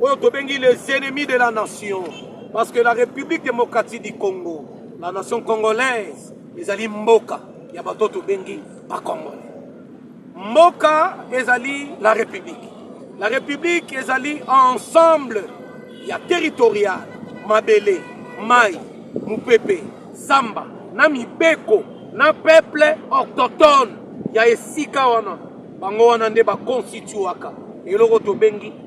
oyo tobengi les ennemis de la nation parce que la république démocratique du congo la nation congolaise ezali mboka ya bato tobengi bacongolais mboka ezali la république la république ezali ensemble ya territorial mabele mai mopepe zamba na mibeko na peuple autochtone ya esika wana bango wana nde bakonstituaka eloko tobengi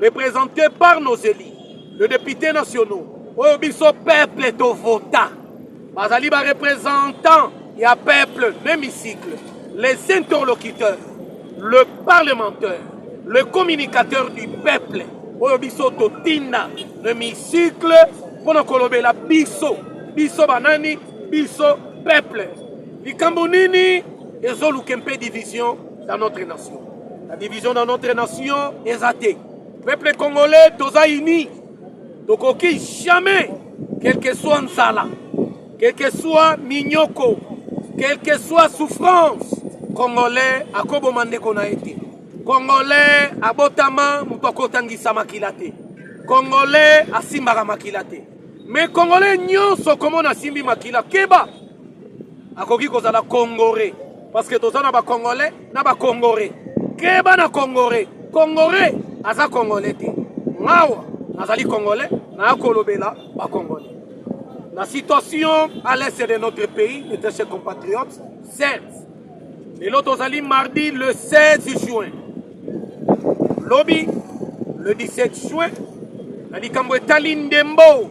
represente par nos élus le député nationaux oyo biso peuple tovota bazali barepresentant ya peuple l'hémicycle les interlocuteurs le parlementaire le communicateur du peuple oyo biso totinda l'hémicycle mpo na kolobela biso biso banani biso peuple likambo nini ezoluke mpe division dans notre nation la division dans notre nation eza te peuple congolais toza uni tokoki jamais quelque soit nzala quelque soit minyoko quelque soit souffrance congolais akoboma ndeko na ye te congolais abotama moto akotangisa makila te congolais asimbaka makila te me congolais nyonso komona asimbi makila keba akoki kozala congore parce que toza na ba congolais na ba congore keba na congore congore aza congolais te ngawa nazali congolais naya kolobela ba congolais la situation à l'est de notre pays de ses compatriotes certes lelo tozali mardi le 16 juin lobi le 17 juin na likambo etali ndembo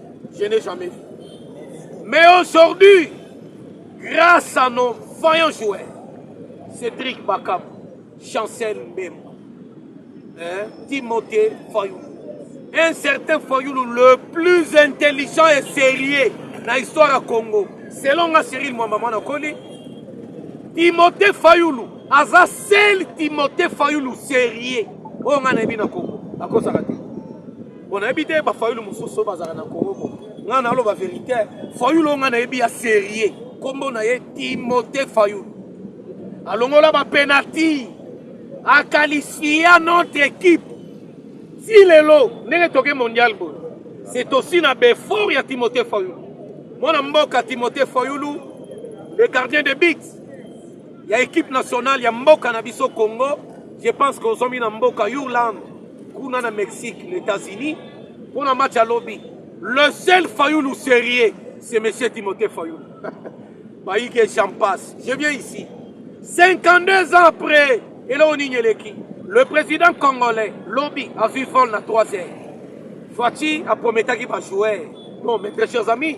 Je n'ai jamais vu. Mais aujourd'hui, grâce à nos vaillants joueurs, Cédric Bakam, Chancel Mbemba, hein, Timothée Fayoulou, un certain Fayoulou, le plus intelligent et sérieux dans l'histoire du Congo, selon nga Cyril Mwamamana Koli, Timothée Fayoulou, aza seul Timothée Fayoulou sérieux, oyo nga nayebi na Congo, akosaka te. Bon, nayebi te ba fayulu mosusu bazalaka na Congo ko. Nga na loba verité, fayulu nga nayebi ya sérieux. Kombo na ye Timothée Fayulu. Alongola ba penalty. A qualifia notre équipe. Si lelo ndenge toke mondial boy. C'est aussi na befort ya Timothée Fayulu. Mwana mboka Timothée Fayulu, le gardien de but. ya equipe nationale ya mboka na biso Congo je pense que ozomi na mboka Yurland kuna na Mexique na États-Unis mpo na match ya lobi le seul Fayulu sérieux c'est monsieur Timothée Fayulu bayike j'en passe je viens ici 52 ans après eloko nini eleki le président congolais lobi azwi vol na 3 heures Fatshi aprometaki bajoueur non mes très chers amis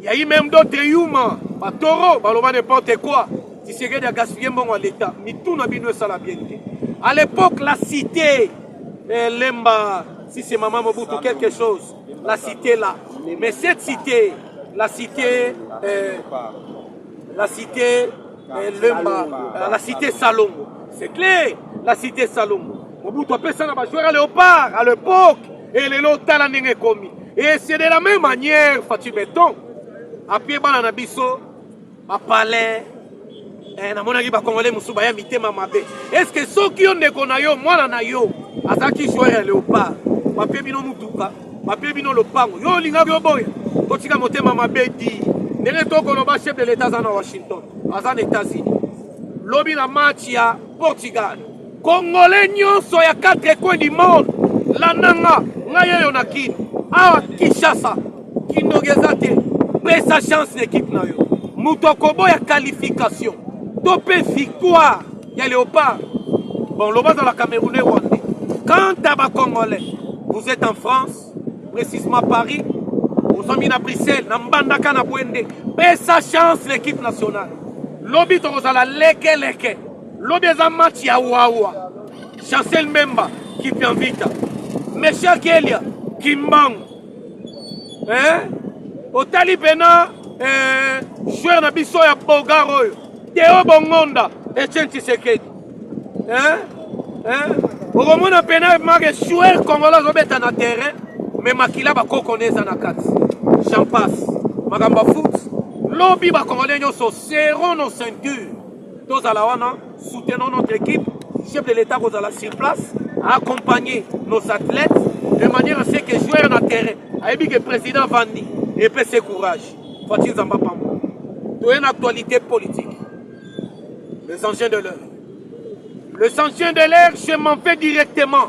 Ya i même d'autres yuma ba toro baloba n'importe quoi Tshisekedi a gaspiller mbongo ya l'etat mitu na bino esala bien te à l'époque la cité eh, lemba si c'est maman Mobutu quelque chose la cité là mais cette cité la cité eh, la cité eh, lemba euh, la cité Salongo c'est clair la cité Salongo Mobutu apesa na ba joueurs à Léopard à l'époque e lelo tala ndenge ekomi e c'est de la même manière fati beton apie bana na biso bapalais eh, namonaki bakongole mosusu baya mitema mabe estce soki yo ndeko na yo mwana na yo azalaki joire ya leopard bapie bino motuka bapie bino lopango yo olingaki oboya totika motema mabe di ndenge tokoloba chef de l'etat aza na washington aza na états-unis lobi na match ya portugal Congolais nyonso ya quatre coins du monde landanga ngai oyo na kin awa kinshasa kindoki eza te pesa chance na ekipe na yo moto akoboya qualification to mpe victoire ya léopard bon loba azala camerounais rwandais quant à bacongolais vous êtes en france précisement paris ozwami na bruxelles na mbandaka na bwende pesa chance na ekipe nationale lobi tokozala lekeleke leke. Lobi eza match ya wawa. Chancel Mbemba Kipianvita. Mesha Kelia Kimbangu. Eh? Otali pena eh, joueur na biso ya Bogar oyo. Teo Bongonda Etienne Tshisekedi. Eh? Eh? Okomona pena mage joueur congolais azobeta na terrain mais makila bakoko ne eza na kati. J'en passe. Makambo foot lobi bakongole nyonso seront nos ceintures tozala wana soutenons notre équipe chef de l'état kozala sur place accompagner nos athlètes de manière à ce que joueur na terrain ayebi que président avandi epese courage fatshi nzambe apamba toye na actualité politique les engins de l'heure les engins de l'air je m'en vais directement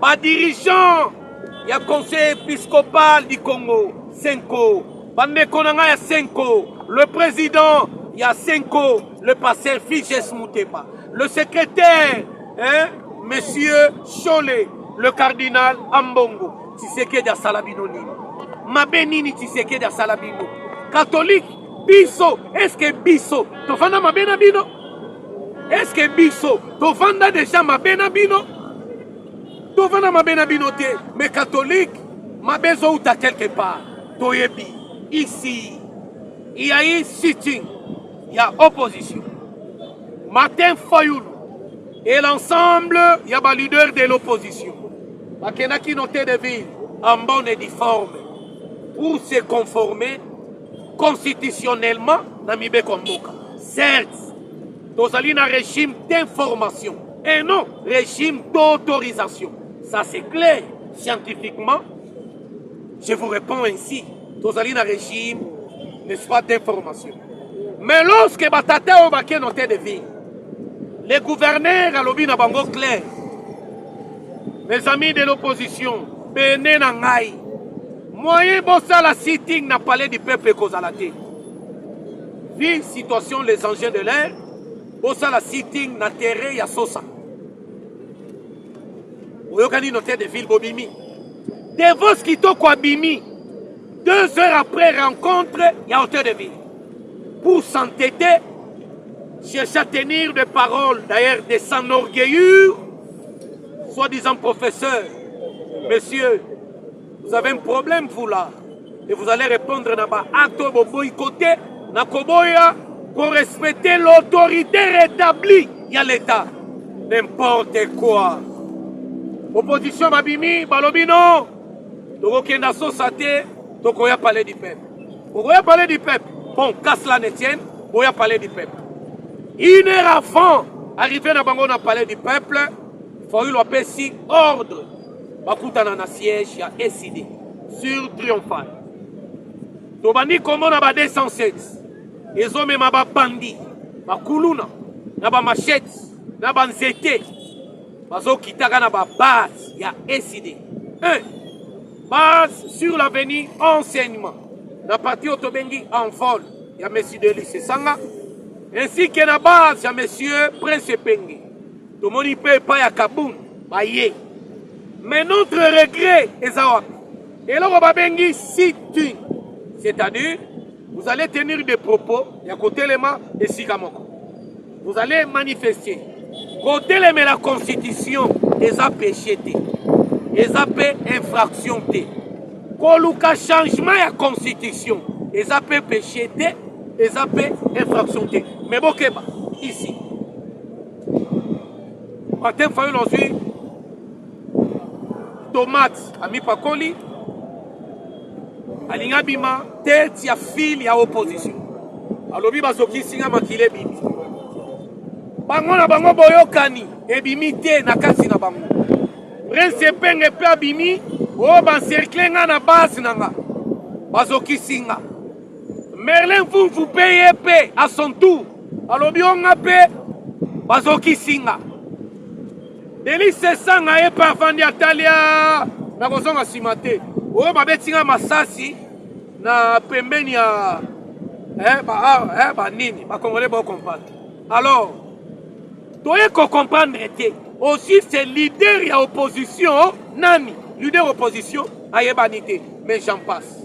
ba dirigeants ya conseil episcopal du congo senko bandeko na ngai ya senko le président ya senko le pasteur figes muteba le secrétaire hein, monsieur shole le cardinal ambongo tisekedi asala bino nini mabe nini tisekedi asala bino katolike biso eske biso tofanda mabe na bino eske biso tofanda deja mabe na bino tofanda mabe na bino te me katholike mabe ezouta quelque part toyebi ici il y a eu sitting ya opposition martin fayulu et l'ensemble ya baleader de l'opposition bakendaki note de ville en bonne et difforme pour se conformer constitutionnellement na mibeko ya mboka certes tozali na régime d'information et non régime d'autorisation ça c'est clair scientifiquement je vous réponds ainsi tozali na régime n'est-ce pas d'information mais lorsque batata oyo bake note de ville le gouverneur alobi na bango clair mes amis de l'opposition pene na ngai Moyen bosala sitting na palais du peuple ekozala te. Vu situation les engins de l'air, bosala sitting na terrain ya Sosa. Oyokani notaire de ville bobimi. Devos kitoko abimi. Deux heures après rencontre, il y a hauteur de ville. Pour s'entêter, chercher à tenir des paroles, d'ailleurs des sans orgueillures, soi-disant professeur, monsieur Vous avez un problème vous là et vous allez répondre na ba acte oyo boboyi kote na koboya ko respecter l'autorité rétablie ya l'État. N'importe quoi. Opposition babimi balobi non tokokenda sosa te tokoya palais du peuple. Okoya palais du peuple. Bon, qu'à cela ne tienne, boya palais du peuple. Une heure avant, arrivé na bango na palais du peuple, Fayulu apesi ordre bakutana na siège ya ECD sur Triomphal. Tobandi komona ba 207 ezomema babandi bakuluna na bamashete na banzete bazokitaka na babase ya ECD 1 base sur l'avenue enseignement na parti oyo tobengi envol ya monsieur Delis Esanga ainsi que na base ya monsieur Prince Epenge tomoni mpe epai ya kabund baye mais notre regret eza wapi eloko babengi sitting c'est-à-dire vous allez tenir des propos ya kotelema esika moko vous allez manifester kotelemela constitution eza péché te eza mpe infraction te koluka changement ya constitution eza mpe péché te eza mpe infraction te mais bokeba ici Martin Fayulu azwi tomate amipakoli alingi abima tete ya file ya opposition alobi bazokisi nga makila ebimi bango na bango boyokani ebimi te na kati na bango prince epenge mpe abimi oyo oh, bancercle nga na base na nga bazokisi nga Merlin Vumvu pe ye pe à son tour alobi o nga pe bazokisi nga Delise Esanga ye pe avandi atali a nakozonga nsima te oyo babeti nga masasi na pembeni ya eh, ba, ah, eh, ba nini bakongole bocomprendre alors toye kocomprendre te aussi c'est leader ya opposition nani leader opposition ayebani te mais j'en passe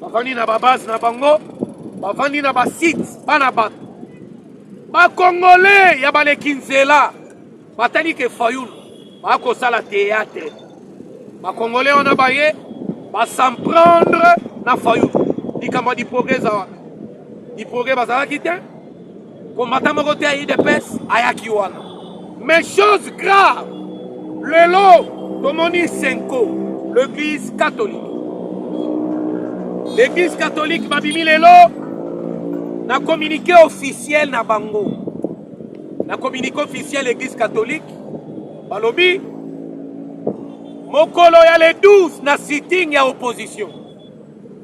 bavandi na babase na bango bavandi na basite bana bato bakongole ya baleki nzela batali ke fayulu bakosala teatre bakongole wana baye basemprendre na fayulu likambo ya diproge eza wana diproge bazalaki te Combattant moko te ya UDPS ayaki wana. Mais chose grave, lelo tomoni Senko, l'église catholique. L'église catholique babimi lelo na communiqué officiel na bango. Na communiqué officiel l'église catholique balobi mokolo ya le 12 na sitting ya opposition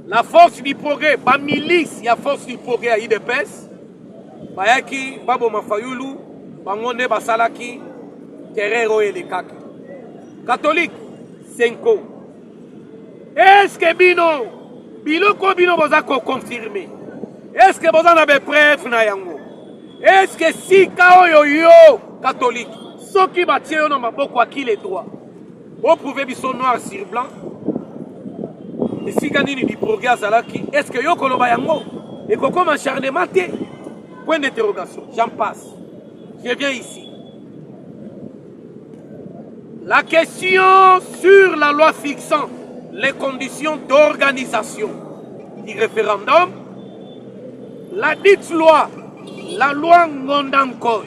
La force du progrès, ba milice ya force du progrès ya UDPS bayaki baboma Fayulu, bango nde basalaki terreur oyo elekaki. Catholique Senko, est-ce que bino biloko bino boza ko confirmer? Est-ce que boza na ba preuve na yango? Est-ce que sika oyo yo catholique soki batie yo na maboko akile droit Bo prouver biso noir sur blanc. Esika nini Biproge azalaki? Est-ce que yo koloba yango? Ekokoma acharnement te? Point d'interrogation. J'en passe. Je viens ici. La question sur la loi fixant les conditions d'organisation du référendum, la dite loi, la loi Ngondankoy,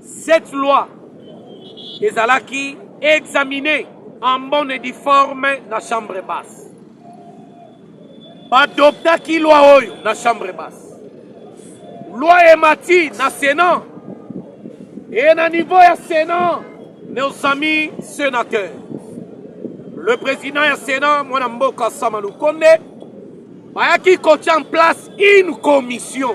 Cette loi ezalaki examiner en bonne et due forme na chambre basse. Badoptaki loi oyo na chambre basse. Loi emati na Sénat. Et na niveau ya Sénat, nos amis sénateurs. Le président ya Sénat, mwana mboka Sama Lukonde, bayaki kotya en place une commission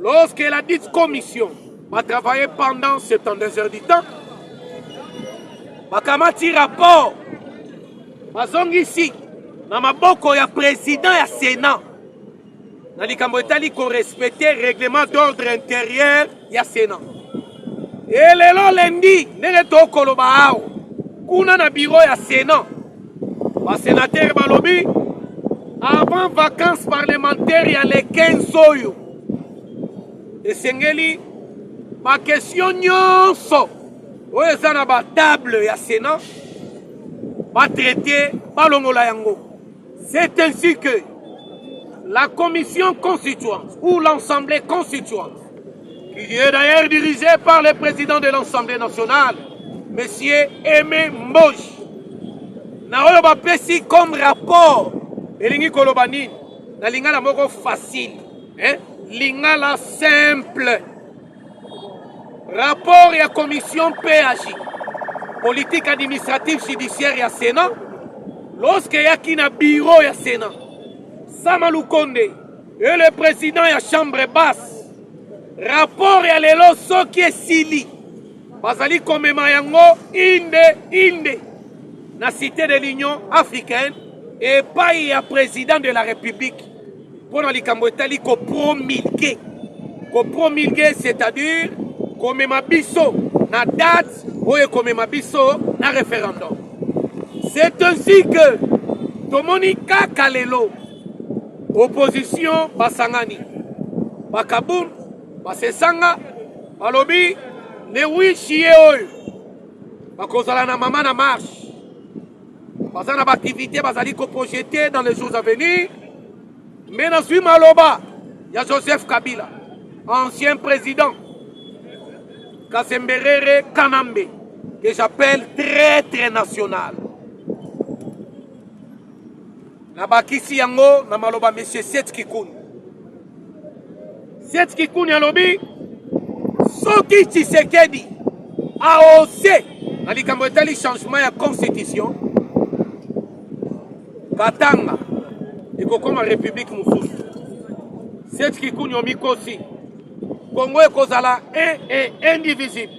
Lorsque la dite commission va travailler pendant 72 heures du temps, bakamati rapport bazongisi na maboko ya président ya Sénat na likambo etali korespecte règlement d'ordre intérieur ya Sénat. E lelo lendi ndenge tokoloba awa kuna na biro ya Sénat Ba senateurs balobi avant vacances parlementaires ya le 15 oyo esengeli ba question nyonso oyo eza na ba table ya Sénat ba traiter balongola yango. C'est ainsi que la commission constituante ou l'assemblée constituante qui est d'ailleurs dirigé par le président de l'Assemblée nationale, M. Aimé Mbosh. na oyo bapesi comme rapport elingi koloba nini na lingala moko facile eh? lingala simple rapport ya commission page politique administrative judiciaire ya sénat lorsque eyaki na biro ya sénat sama lukonde Et le président ya chambre basse rapport ya lelo soki esili bazali komema yango inde inde na cité de l'union africaine epai ya président de la république mpo na likambo etali kopromulge kopromulge c'est-à-dire komema biso na date oyo ekomema biso na référendum c'est ainsi que tomoni kaka lelo opposition basangani bakabum basesanga balobi le 8 juillet oyo bakozala na mama na marche baza na baaktivité bazali koprojete dans les jours à venir me nazwi maloba ya joseph kabila ancien président kasemberere kanambe que j'appelle très très national Nabakisi yango na maloba Monsieur Seth Kikuni. Seth Kikuni alobi soki Tshisekedi aose na likambo etali changement ya constitution, Katanga ekokoma republique mosusu. Seth Kikuni omikosi, Kongo ekozala un et indivisible.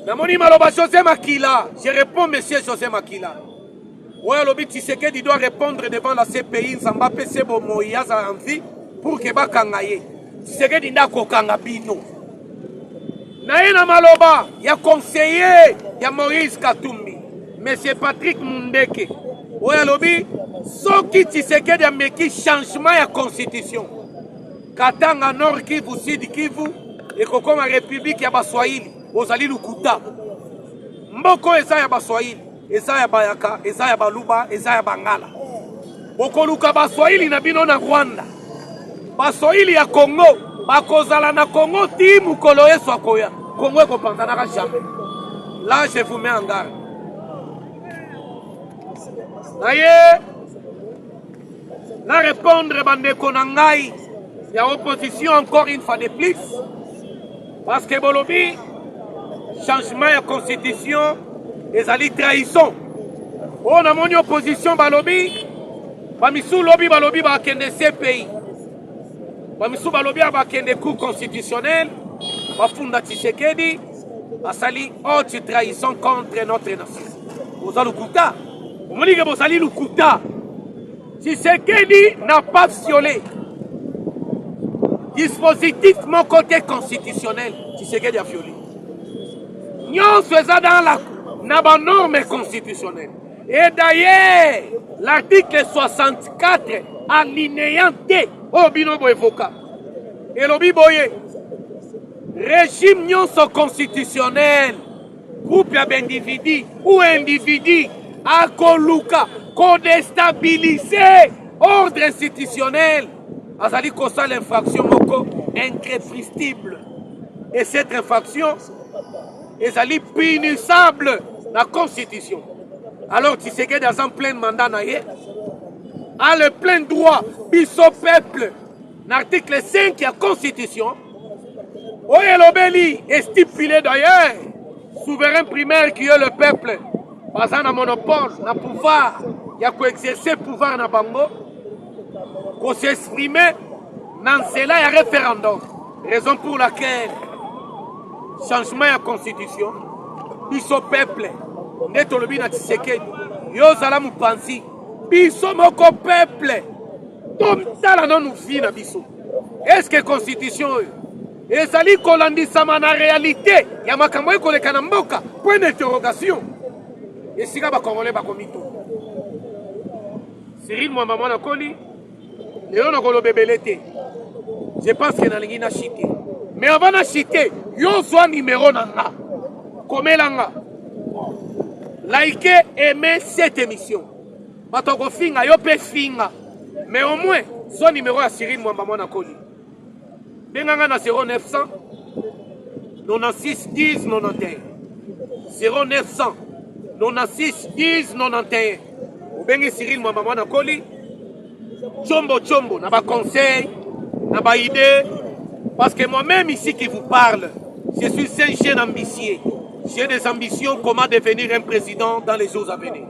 Namoni maloba José Makila, je réponds Monsieur José Makila. oyo alobi tshisekedi doit répondre devant la cpi nzambe apese bomoi azala en vie pour ke bakanga ye tshisekedi nde akokanga bino na ye na maloba ya conseiller ya moïse katumbi monsieur patrick mundeke oyo alobi soki tshisekedi ameki changement ya constitution katanga nord kivu sud kivu ekokoma republike ya baswahili ozali lokuta mboko eza ya baswahili eza ya bayaka eza ya baluba eza ya bangala bokoluka baswahili na bino na rwanda baswahili ya kongo bakozala na kongo ti mokolo yesu akoya kongo ekopanzanaka jamais la je vous mets en garde naye na répondre bandeko na ngai ya opposition encore une fois de plus Parce que bolobi changement ya constitution ezali trahison oyo oh, namoni opposition balobi bamisu lobi balobi bakende cpi bamisu balobi bakende cour constitutionnel bafunda tshisekedi asali haute trahison contre notre nation boza lokuta omonike bozali lokuta Tshisekedi n'a pas violé dispositif mon côté constitutionnel Tshisekedi a violé nyonso eza dans la na banorme constitutionnelle et d'ailleurs l'article 64 alinéa te oyo bino boevoka elobi boye régime nyonso constitutionnel groupe ya baindividu ou individu akoluka kodestabilise ordre institutionnel azali kosala infraction moko increpristible et cette infraction ezali punissable na constitution alors tshisekedi aza pleine mandat na ye a le plein droit biso peuple na article 5 ya constitution oyo elobeli estipule d'ailleurs souverain primaire qui est le peuple baza na monopole na pouvoir ya koexerce pouvoir na bango kosexprime na nzela ya référendum raison pour laquelle changement ya constitution biso peuple nde tolobi na tshisekedi yo ozala mopanzi biso moko peuple tomtala nanu vi na biso eske constitution oyo ezali kolandisama na realite ya makambo oyo koleka na mboka point d'interrogation esika bakongole bakomito cyril mwamba mwana koli lelo nakoloba ebele te je pense ke nalingi na chite mais avant na chite yo zwa numero na nga komela nga like aime cette émission Bato ya kofinga yo mpe finga, mais au moins zwa nimero ya Cyril Mwamba mwana koli, benga nga na 0900 96 10 91 0900 96 10 91 obengi Cyril Mwamba mwana koli chombo chombo na baconseil na baide parce que moi-même ici qui vous parle je suis un jeune ambitieux j'ai des ambitions comment devenir un président dans les jours à venir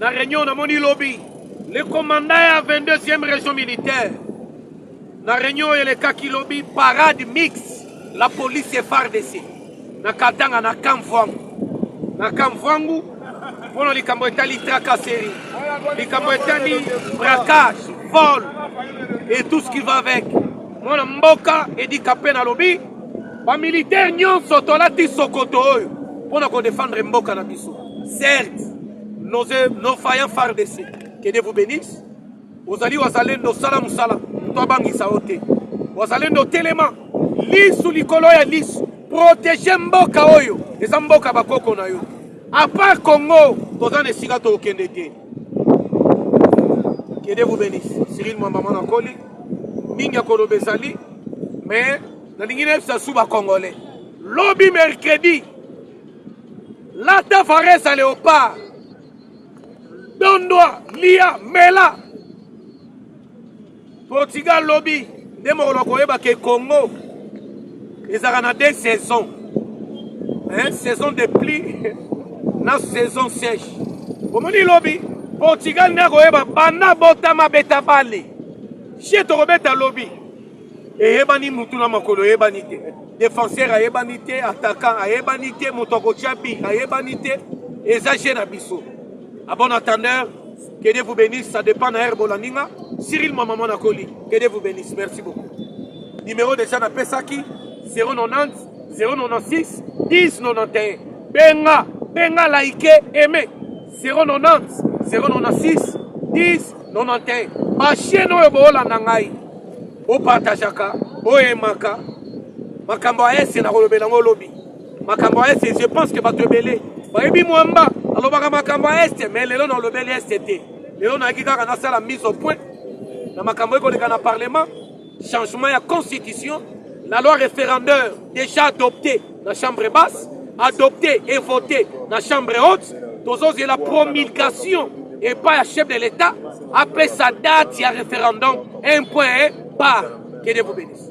na reunion namoni lobi le commandant ya 22e région militaire na reunion oyo elekaki lobi parade mix la police fardc na katanga na kamvwangu na kamvwangu mpo na likambo etali tracasserie likambo etali braquage vol et tout ce qui va avec mwana mboka edika mpe nalobi bamilitaire nyonso tolati sokoto oyo mpo na kodefendre mboka na biso Certes, nos, nos faillants FARDC, que Dieu vous bénisse. Ozali wazalendo sala musala, to abangisa yo te. Wazalendo telema, lisu likolo ya lisu, protege mboka oyo, eza mboka bakoko na yo. A part Congo, toza na esika tokende te. Que Dieu vous bénisse. Cyril Mwamba mwana koli, mingi ya koloba ezali, mais nalingi nayebisa su ba congolais. Lobi mercredi Lata varesa leopard. Dondwa, lia, mela. Portugal lobi nde mokolo koyeba ke Congo ezalaka na deux saisons. Hein, saison de pluie na saison sèche. Omoni lobi Portugal nde akoyeba banda botama beta bale. Chez tokobeta lobi. eyebani mutu na makolo eyebani te defenseur ayebani te attaquant ayebani te moto akotya bi ayebani te eza je na biso a bon attendeur que dieu vous bénisse ça dépend na heure bolandi nga cyril mwa mama nakoli que dieu vous bénisse merci beaucoup numéro déjà napesaki 090 096 10 91 benga benga like aime 090 096 10 91 bashene oyo boolanda ngai bopartageaka boyemaka makambo ya ese nakolobela yango lobi makambo ya ese je pense ke bato ebele bayebi mwamba alobaka makambo ya este me lelo naolobeli este te lelo nayaki kaka nasala mise au point na makambo ekoleka na parlement Changement ya constitution, la loi référendaire déjà adoptée na chambre basse, adoptée et votée na chambre haute, tozozela promulgation epai ya chef de l'État apesa date ya référendum un point par que Dieu vous bénisse.